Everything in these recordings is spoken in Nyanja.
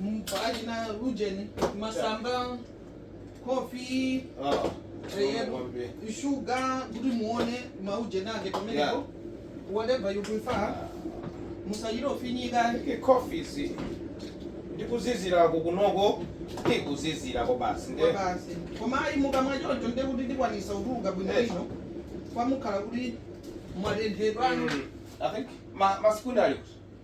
Mpatseni maujeni, masamba, coffee, shuga, kuti muone, maujeni ake pamenepo. Whatever you prefer. Musachite kufinyika. Coffee si. Ndikuzizira kunoko, ndikuzizira ko basi. Ko basi. Koma ayi mukamwa choncho nde kuti ndikwanisa kutuluka bwino bwino. Eh. Koma mukhala kuti mwatenthedwa. Mm. I think ma ma sekondari.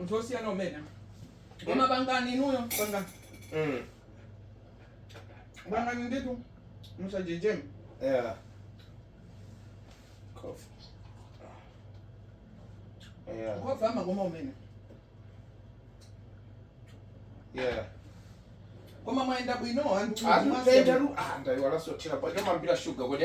anthu osiyana kumene koma pangani inuyo pangani Mm. pangani ndithu musachedwe Yeah. Coffee. Yeah. coffee amakoma kumene Yeah. koma mwayenda bwino anthu Antu mwasiya- ndayiwala zothira paja mumathira shuga kodi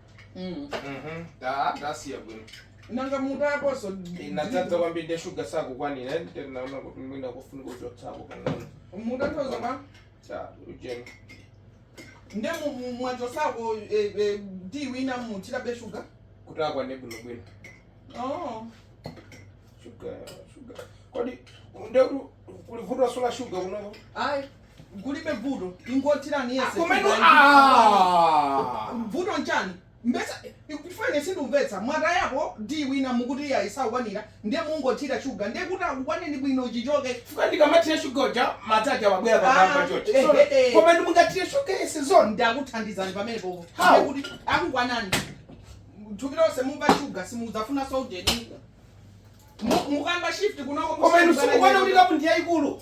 Mm. Mhm. Ah, mwasiya bwino nanga mukaponso inadzadza kwambiri ndi shuga sakukwanira ndinaona kuti mwina kufunika kuchotsako pang'ono mukaponso mwa ujeni nde mu- mu- mwachotsako eh, eh, ndi wina muthirabe shuga kuti akwane bwinobwino oh. shuga shuga kodi ndekuti kuli vuto la shuga kunoko ayi kulibe vuto ingothirani yense Koma inu, sugar ndi ah. wine. vuto nchani mpesa chifukwa ine sindimvetsa mwatayapo ndi wina mukuti iyayi isakukwanira ndiye mungothira shuga ndiye kuti akukwaneni bwino chichoke Chifukwa ndikamathira shuga uja madzi aja abwera Ah, pamwamba chochi. eh, So, eh, eh. Koma nde mungathire shuga yense zoona. ndakuthandizani pamenepo How? Ndiye kuti akukwanani thupi lonse mumva shuga simudzafuna zoujeni mukamba shift kunoko Koma inu simukuwona kuti kapu ndi yayikulu.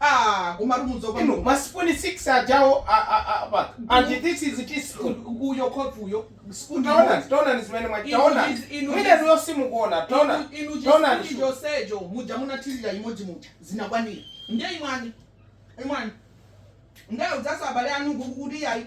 Aaa komatu mudzaopa Inu ma spoon 6 ajawa a a a apa. And this is teaspoon. uyo coffee uyo spoon Taona, imodzi taona ni zimene mwa. Inu Taona. is- inu Mwina is- ndiyo simukuona. Taona. Inu- inu chi Taona spoon ndicho. chonsecho muja munathirira imodzi muja zinakwanira ndiye imwani imwani ndiye muziuza abale anu uku kuti iyayi